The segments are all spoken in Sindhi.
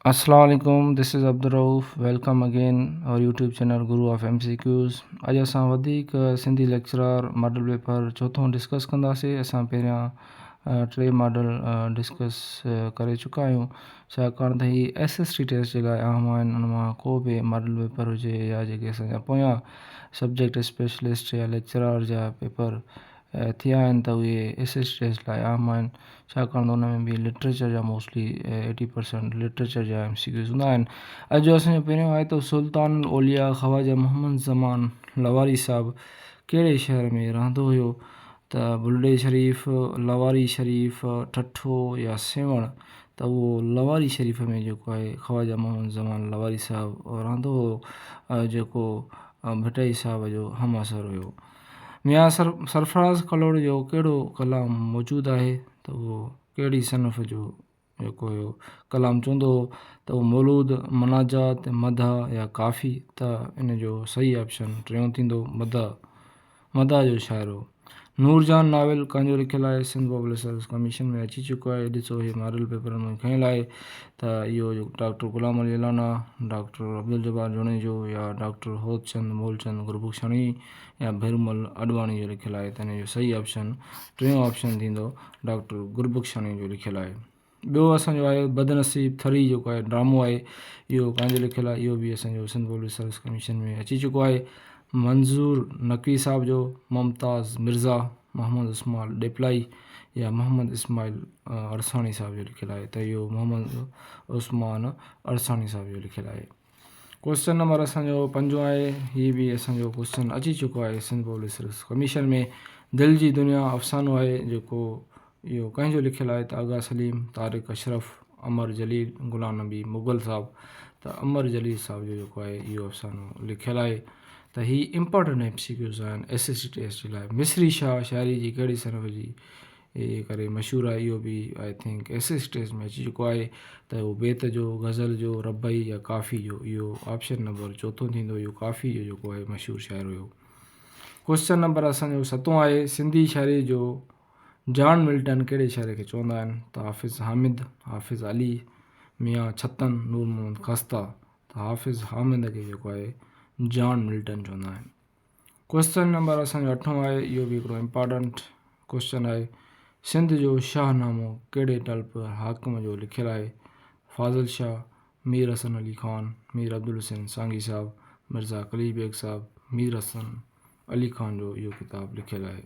السلام عليڪم this is Abdul Rauf welcome again our YouTube channel guru of M C Qs اڄ اسان وڌيڪ سنڌي ليڪچرار ماڊل پيپر چوٿون ڊسڪس ڪنداسي اسان پهريان ٽي ماڊل ڊسڪس ڪري چڪا آهيون ڇاڪاڻ ته هي ايس ايس ٽي ٽيسٽ جي لاء اهم آهن ان مان ڪو به ماڊل پيپر هجي يا جيڪي اسان جا پويان سبجيڪٽ اسپيشلسٽ يا ليڪچرار جا پيپر ٿيا آهن ته اهي ايس ايس ٽي ايس لاء اهم آهن ڇاڪاڻ ته ان ۾ به لٽريچر جا موسٽلي ايٽي پرسينٽ لٽريچر جا ايم سي ڪيوز هوندا آهن اڄ جو اسان جو پهريون آيتو سلطان الاولياء خواجه محمد زمان لواري صاحب ڪهڙي شهر ۾ رهندو هيو ته بلڙي شريف لواري شريف ٺٺو يا سيوهڻ ته اهو لواري شريف ۾ جيڪو آهي خواجه محمد زمان لواري صاحب رهندو هيو جيڪو ڀٽائي صاحب جو همعصر هيو ميان سرفراز ڪلهوڙي جو ڪهڙو ڪلام موجود آهي ته اهو ڪهڙي صنف جو جيڪو هيو ڪلام چوندو هو ته اهو مولود مناجات مدح يا ڪافي ته ان جو صحيح آپشن ٽيون ٿيندو مدح مدح جو شاعر هو نور جهان ناول ڪنهنجو لکيل آهي سنڌ پبلشرز ڪميشن ۾ اچي چڪو آهي ڏسو هي ماڊل پيپرن مان کنيل آهي ته اهو جو ڊاڪٽر غلام علي الانا، ڊاڪٽر عبدالجبار جوڻيجو يا ڊاڪٽر هوتچند مولچند گربخشاڻي يا ڀيرومل اڏواڻي جو لکيل آهي ته ان جو صحيح آپشن ٽيون آپشن ٿيندو ڊاڪٽر گربخشاڻي جو لکيل آهي. ٻيو اسان جو آهي بدنصيب ٿري جيڪو آهي ڊرامو آهي اهو ڪنهن جو لکيل آهي اهو به اسان جو سنڌ پبلڪ سروس ڪميشن ۾ اچي چڪو آهي منظور نقوي صاحب جو ممتاز مرزا. محمد اسماعيل ڏيپلائي يا محمد اسماعيل عرساڻي صاحب جو لکيل آهي ته اهو محمد عثمان عرساڻي صاحب جو لکيل آهي. ڪوشچن نمبر اسان جو پنجون آهي هي به اسان جو ڪوشچن اچي چڪو آهي سنڌ پبلڪ سروس ڪميشن ۾ دل جي دنيا افسانو آهي جيڪو اهو ڪنهن جو لکيل آهي ته آغا سليم، طارق اشرف، امر جليل، غلام نبي مغل صاحب ته امر جليل صاحب جو جيڪو آهي اهو افسانو لکيل آهي ته هي امپارٽنٽ ايم سي ڪيوز آهن S S C T S C لاء مصري شاهه شاعري جي ڪهڙي صنف جي ڪري مشهور آهي اهو به I think S S C T S C ۾ اچي چڪو آهي ته هو بيت جو غزل جو ربعي يا ڪافي جو اهو آپشن نمبر چوٿون ٿيندو اهو ڪافي جو جيڪو آهي مشهور شاعر هيو ڪوشچن نمبر اسانجو ستون آهي سنڌي شاعري جو جان ملٽن ڪهڙي شاعر کي چوندا آهن ته حافظ حامد، حافظ علي، ميان ڇتن، نور محمد خسته ته حافظ حامد کي جيڪو آهي جان ملٽن چوندا آهن. ڪويسچن نمبر اسان جو اٺون آهي اهو به هڪڙو امپارٽنٽ ڪويسچن آهي سنڌ جو شاهه نامو ڪهڙي ٽلپ حاڪم جو لکيل آهي فاضل شاهه، مير حسن علي خان، مير عبدالحسين سانگي صاحب، مرزا قليچ بيگ صاحب، مير حسن علي خان جو اهو ڪتاب لکيل آهي.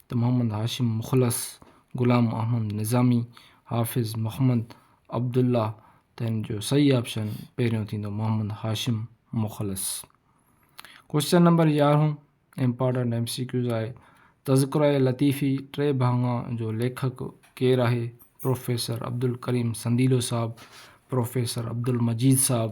ته محمد هاشم مخلص، غلام احمد نظامي، حافظ محمد عبدالله ته هن جو صحيح آپشن پهريون ٿيندو محمد هاشم مخلص. ڪوشچن نمبر يارهون امپارٽنٽ ايم سي ڪيوز آهي تذڪره لطيفي ٽي ڀاڱا جو ليکڪ ڪير آهي؟ پروفيسر عبدالڪريم سنديلو صاحب، پروفيسر عبدالمجيد صاحب،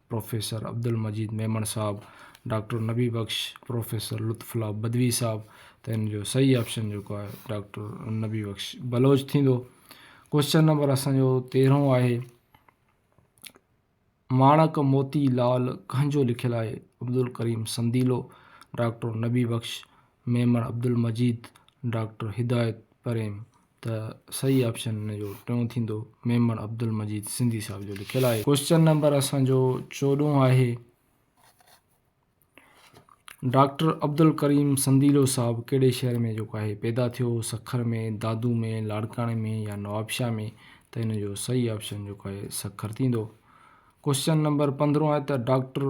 پروفيسر عبدالمجيد ميمڻ صاحب، ڊاڪٽر نبي بخش، پروفيسر لطف الله بدوي صاحب ته ان جو صحيح آپشن جيڪو آهي ڊاڪٽر نبي بخش بلوچ ٿيندو. ڪوئسچن نمبر اسان جو تيرهون آهي ماڻڪ موتي لال ڪنهن جو لکيل آهي عبدالڪريم سنديلو، ڊاڪٽر نبي بخش، ميمڻ عبدالمجيد، ڊاڪٽر هدايت پريم. ته صحيح آپشن ان جو ٽيون ٿيندو ميمڻ عبدالمجيد سنڌي صاحب جو لکيل آهي ڪوشچن نمبر اسان جو چوڏهون آهي ڊاڪٽر عبدالڪريم سنديلو صاحب ڪهڙي شهر ۾ جيڪو آهي پيدا ٿيو سکر ۾ دادو ۾ لاڙڪاڻي ۾ يا نوابشاهه ۾ ته ان جو صحيح آپشن جيڪو آهي سکر ٿيندو ڪوشچن نمبر پندرهون آهي ته ڊاڪٽر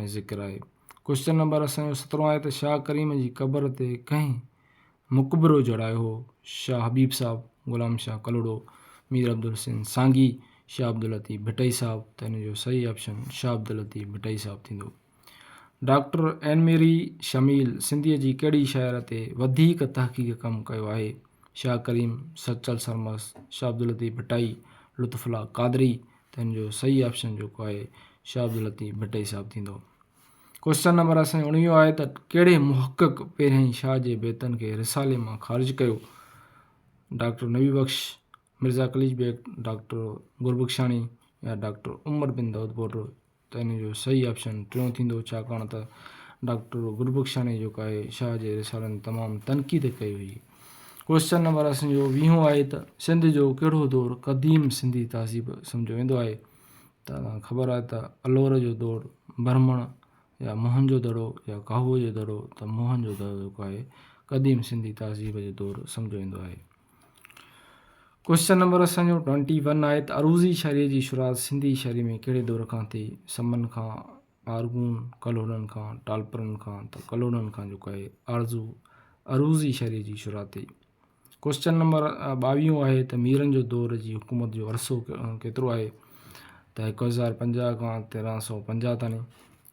۽ ذڪر آهي. ڪوشچن نمبر اسان جو سترهون آهي ته شاهه ڪريم جي قبر تي ڪنهن مقبرو جڙايو هو؟ شاهه حبيب صاحب، غلام شاهه ڪلهوڙو، مير عبدالحسين سانگي، شاهه عبداللطيف ڀٽائي صاحب ته هن جو صحيح آپشن شاهه عبداللطيف ڀٽائي صاحب ٿيندو. ڊاڪٽر اين ميري شميل سنڌيء جي ڪهڙي شاعر تي وڌيڪ تحقيق ڪم ڪيو آهي؟ شاهه ڪريم، سچل سرمست، شاهه عبداللطيف ڀٽائي، لطف الله قادري، تنهن جو صحيح آپشن جيڪو آهي شاهه عبداللطيف ڀٽائي صاحب ٿيندو. ڪوشچن نمبر اسان جو اڻويهون آهي ته ڪهڙي محقق پهريائين شاهه جي بيتن کي رسالي مان خارج ڪيو؟ ڊاڪٽر نبي بخش، مرزا قليچ بيگ، ڊاڪٽر گربخشاڻي يا ڊاڪٽر عمر بن دائود پوٽو ته ان جو صحيح آپشن ٽيون ٿيندو ڇاڪاڻ ته ڊاڪٽر گربخشاڻيء جيڪو آهي شاهه جي رسالن تي تمام تنقيد ڪئي هئي. ڪوئسچن نمبر اسين جو ويهون آهي ته سنڌ جو ڪهڙو دور قديم سنڌي تهذيب سمجهيو ويندو آهي ته اوهان کي خبر آهي ته الور جو دور برهمڻ يا موهن جو دڙو يا ڪاهوء جو دڙو ته موهن جو دڙو جيڪو آهي قديم سنڌي تهذيب جو دور سمجهيو ويندو آهي. ڪوئسچن نمبر اسان جو ٽوئنٽي ون آهي ته عروضي شاعريء جي شروعات سنڌي شاعريء ۾ ڪهڙي دور کان ٿي؟ سمن کان، آرغون، ڪلهوڙن کان، ٽالپرن کان ته ڪلهوڙن کان جيڪو آهي آرزو عروضي شاعريء جي شروعات ٿي. ڪوئسچن نمبر ٻاويهون آهي ته ميرن جو دور جي حڪومت جو عرصو ڪيترو آهي ته هڪ هزار پنجاهه کان تيرهن سؤ پنجاهه تائين.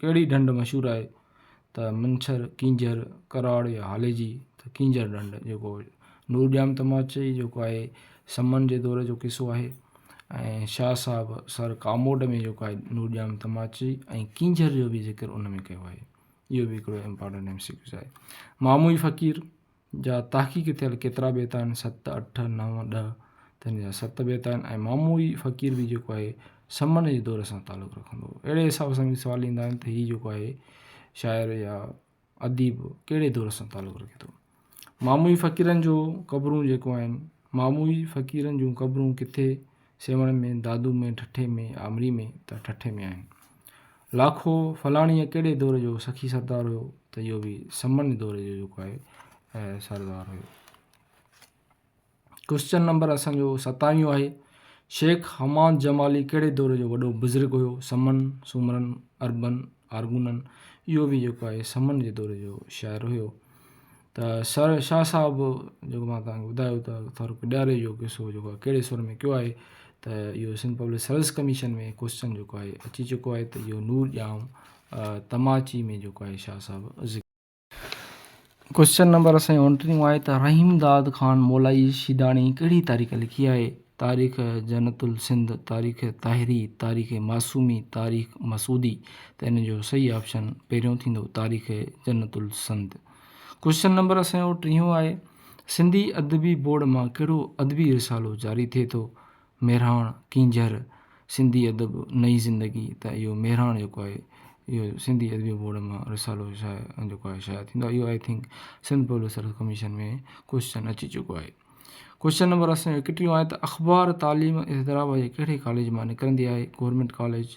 ڪهڙي ڍنڍ مشهور آهي ته منڇر ڪينجهر ڪراڙ يا هالي جي ته ڪينجهر ڍنڍ جيڪو نور ڄام تماچي جيڪو آهي سمن جي دور جو قصو آهي ۽ شاهه صاحب سر ڪاموٽ ۾ جيڪو آهي نور ڄام تماچي ۽ ڪينجهر جو بي ذڪر ان ۾ ڪيو آهي اهو بي هڪڙو امپارٽنٽ ايم سي ڪيو آهي ماموئي فقير جا تحقيق ٿيل ڪيترا بيت آهن، ست، اٺ، نو، ڏهه، تن جا ست بيت آهن ۽ ماموئي فقير به جيڪو آهي سمن جي دور سان تعلق رکندو هو. اهڙي حساب سان به سوال ايندا آهن ته هي جيڪو آهي شاعر يا اديب ڪهڙي دور سان تعلق رکي ٿو. ماموئي فقيرن جو قبرون جيڪو آهن، ماموئي فقيرن جون قبرون ڪٿي، سيوهڻ ۾، دادو ۾، ٺٺي ۾، آمري ۾، ته ٺٺي ۾ آهن. لاکو فلاڻيء ڪهڙي دور جو سخي سردار هيو ته اهو به سمن دور جو جيڪو آهي سردار هيو. ڪوئسچن نمبر اسان جو ستاويهون آهي، شيخ حماد جمالي ڪهڙي دور جو وڏو بزرگ هيو؟ سمن، سومرن، عربن، آرغونن، اهو به جيڪو آهي سمن جي دور جو شاعر هيو. ته سر شاهه صاحب جيڪو مان توهان کي ٻڌايو ته ٿر پڏياري جو قصو جيڪو آهي ڪهڙي سر ۾ ڪيو آهي ته اهو Sindh public service commission ۾ question جيڪو آهي اچي چڪو آهي ته اهو نور ڄام تماچي ۾ جيڪو آهي شاهه صاحب ذڪر ڪوسچن نمبر سائين اڻٽيهون آهي ته رحيم داد خان مولائي شيداڻي ڪهڙي تاريخ لکي آهي تاريخ جنت السنڌ تاريخ طاهري تاريخ معصومي تاريخ مسعودي ته ان جو صحيح آپشن پهريون ٿيندو تاريخ جنت السنڌ ڪوشچن نمبر اسان جو ٽيهون آهي سنڌي ادبي بورڊ مان ڪهڙو ادبي رسالو جاري ٿئي ٿو ميرهاڻ ڪينجهر سنڌي ادب نئي زندگي ته اهو ميرهاڻ جيڪو آهي اهو سنڌي ادبي بورڊ مان رسالو شايع جيڪو آهي شايع ٿيندو اهو I think Sindh public service commission ۾ question اچي چڪو آهي ڪوشچن نمبر اسان جو اڪٽيهون آهي ته اخبار تعليم حيدرآباد جي ڪهڙي ڪاليج مان نڪرندي آهي گورنمينٽ ڪاليج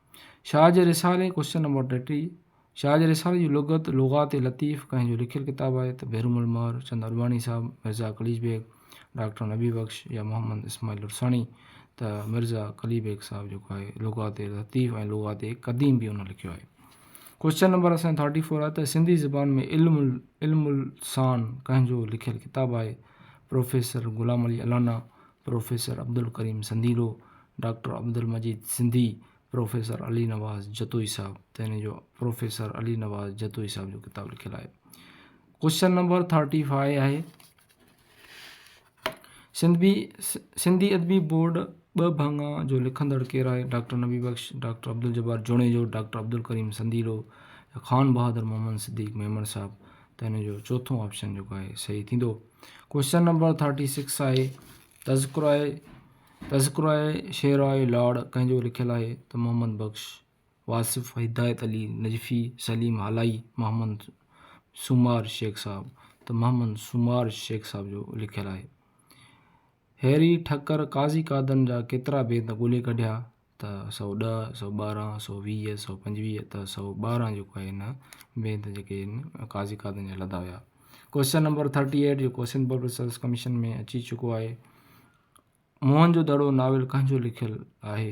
شاهه جي رسالي، Question Number ٽيٽيهه، شاهه جي رسالي جي لغت، لغات لطيف، ڪنهن جو لکيل ڪتاب آهي ته بهروم المهر، چند اڏواڻي صاحب، مرزا قليچ بيگ، ڊاڪٽر نبي بخش يا محمد اسماعيل عرساڻي ته مرزا قلي بيگ صاحب جيڪو آهي لغات لطيف ۽ لغات قديم به ان لکيو آهي. ڪويشچن نمبر اسان ٿرٽي فور آهي ته سنڌي زبان ۾ علم علم السان ڪنهن جو لکيل ڪتاب آهي؟ Professor Ghulam Ali Allana, professor Abdul Karim Sandilo, doctor Abdul Majeed Sindhi, professor Ali Nawaz Jatoi Sahib ته هن جو پروفيسر علي نواز جتوئي صاحب جو ڪتاب لکيل آهي. ڪوشچن نمبر ٿرٽي فائي آهي. سنڌي سنڌي ادبي بورڊ ٻه ڀاڱا جو لکندڙ ڪير آهي؟ Doctor Nabi Bakhsh, doctor Abdul Jabbar Junejo, doctor Abdul Karim Sandilo, Khan Bahadur Muhammad صديق ميمڻ صاحب ته هن جو چوٿون آپشن جيڪو آهي صحيح ٿيندو. ڪوشچن نمبر ٿرٽي سڪس آهي تذڪرو آهي تذڪرو آهي شعر آهي لاڙ ڪنهن جو لکيل آهي ته محمد بخش واصف هدايت علي نجفي سليم هالائي محمد سومار شيخ صاحب ته محمد سومار شيخ صاحب جو لکيل آهي هيري ٺڪر قاضي قادن جا ڪيترا بيت ڳولي ڪڍيا ته سؤ ڏهه، سؤ ٻارهن، سؤ ويهه، سؤ پنجويهه ته سؤ ٻارهن جيڪو آهي هن بيت جيڪي آهن قاضي قادن جا لڌا ويا. ڪوئسچن نمبر ٿرٽي ايٽ جيڪو سنڌ پبلڪ سروس ڪميشن ۾ اچي چڪو آهي. موهن جو دڙو ناول ڪنهن جو لکيل آهي؟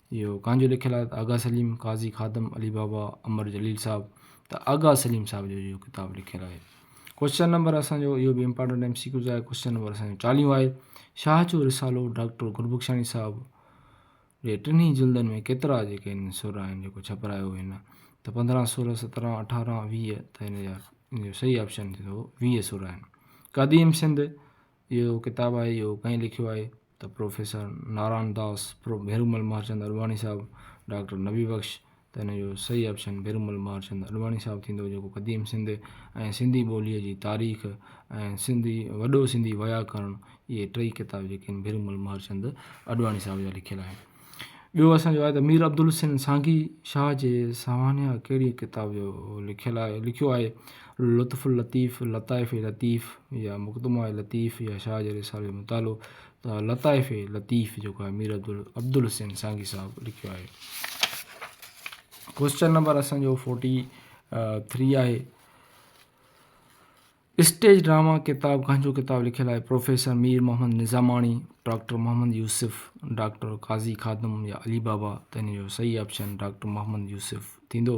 اهو ڪانجو لکيل آهي ته آغا سليم، قاضي خادم، علي بابا، امر جليل صاحب ته آغا سليم صاحب جو اهو ڪتاب لکيل آهي. ڪوشچن نمبر اسان جو اهو به امپارٽنٽ ايم سي ڪيوز آهي ڪوشچن نمبر اسان جو چاليهون آهي شاهه جو رسالو ڊاڪٽر گلبخشاڻي صاحب جي ٽنهي جلدن ۾ ڪيترا جيڪي آهن سر آهن جيڪو ڇپرايو هن ته پندرهن سورهن سترهن اٺارهن ويهه ته هن جا ان جو صحيح آپشن ٿيندو ويهه سر آهن قديم سنڌ اهو ڪتاب آهي اهو ڪنهن لکيو آهي ته professor Narayan Das pro Bherumal Mehrchand Advani Sahib doctor Nabi Bakhsh ته هن جو صحيح آپشن ڀيرومل مهرچند اڏواڻي صاحب ٿيندو جيڪو قديم سنڌ ۽ سنڌي ٻوليء جي تاريخ ۽ سنڌي وڏو سنڌي وياڪرڻ اهي ٽئي ڪتاب جيڪي آهن ڀيرومل مهرچند اڏواڻي صاحب جا لکيل آهن ٻيو اسان جو آهي ته مير عبدالحسين سانگي شاهه جي سوانح ڪهڙيء ڪتاب جو لکيل آهي لکيو آهي لطف اللطيف لطائف لطيف يا مقدمه لطيف يا شاهه جي رسالي جو مطالعو ته لطائف لطيف جيڪو آهي مير عبدالحسين سانگي صاحب لکيو آهي ڪوشچن نمبر اسان جو فورٽي ٿري آهي اسٽيج ڊراما ڪتاب گهنجو ڪتاب لکيل آهي professor Mir Muhammad Nizamani doctor Muhammad Yousuf doctor Qazi Khadim يا علي بابا ته هن جو صحيح آپشن ڊاڪٽر محمد يوسف ٿيندو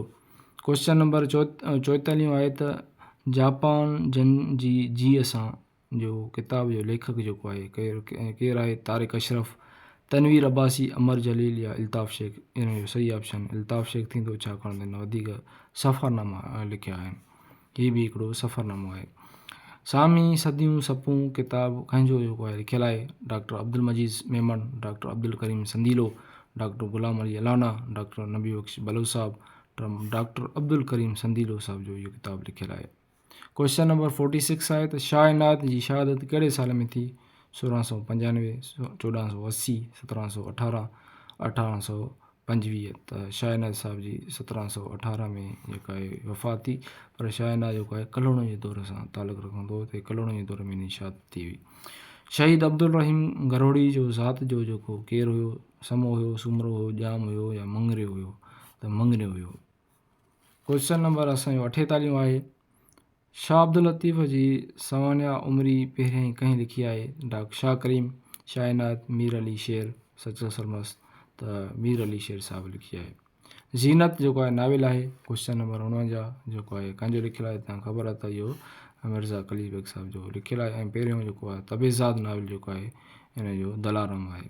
ڪوشچن نمبر چو چوئتاليون آهي ته جاپان جن جي جيء سان جو ڪتاب جو ليکڪ جيڪو آهي ڪير ڪير آهي طارق اشرف تنوير عباسي امر جليل يا الطاف شيخ هن جو صحيح آپشن الطاف شيخ ٿيندو ڇاڪاڻ ته هن وڌيڪ سفرناما لکيا آهن هي به هڪڙو سفرنامو آهي. سامي صديون سپون ڪتاب ڪنهن جو جيڪو آهي لکيل آهي doctor Abdul Majeed Memon, doctor Abdul Karim Sandilo, doctor Ghulam Ali Allana, doctor Nabi Bakhsh Baloch Sahib ٽرم ڊاڪٽر عبدالڪريم سنديلو صاحب جو اهو ڪتاب لکيل آهي. ڪوئسچن نمبر فورٽي سڪس آهي ته شاهه عنايت جي شهادت ڪهڙي سال ۾ ٿي؟ سورهن سؤ پنجانوي، چوڏهن سؤ اسي، سترهن سؤ اٺارهن، اٺارهن سؤ پنجويهه ته شاهناز صاحب جي سترهن سؤ اٺارهن ۾ جيڪا هي وفات ٿي پر شاهناز جيڪو آهي ڪلهوڙن جي دور سان تعلق رکندو هو ته ڪلهوڙن جي دور ۾ شاد ٿي هئي شهيد عبدالرحيم گروڙي جو ذات جو جيڪو ڪير هيو سمو هيو سومرو هيو ڄام هيو يا مڱريو هيو ته مڱريو هيو ڪويشچن نمبر اسان جو اٺيتاليهون آهي. شاهه عبداللطيف جي سوانح عمري پهريائين ڪنهن لکي آهي؟ ڊاڪٽر شاهه ڪريم، شاهه عنايت، مير علي شير، سچل سرمست ته مير علي شير صاحب لکي آهي. زينت جيڪو آهي ناول آهي. ڪويشچن نمبر اڻونجاهه جيڪو آهي ڪنهن جو لکيل آهي تنهن خبر آهي ته اهو مرزا قليچ بيگ صاحب جو لکيل آهي ۽ پهريون جيڪو آهي تبعزاد ناول جيڪو آهي ان جو دلارام آهي.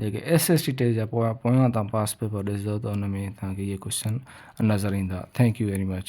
جيڪي ايس ايس ٽي ٽي جا پويان پويان تان پاس پيپر ڏسدو ته ان ۾ توهان کي اهي ڪوشچن نظر ايندا ٿينڪ يو ويري مچ.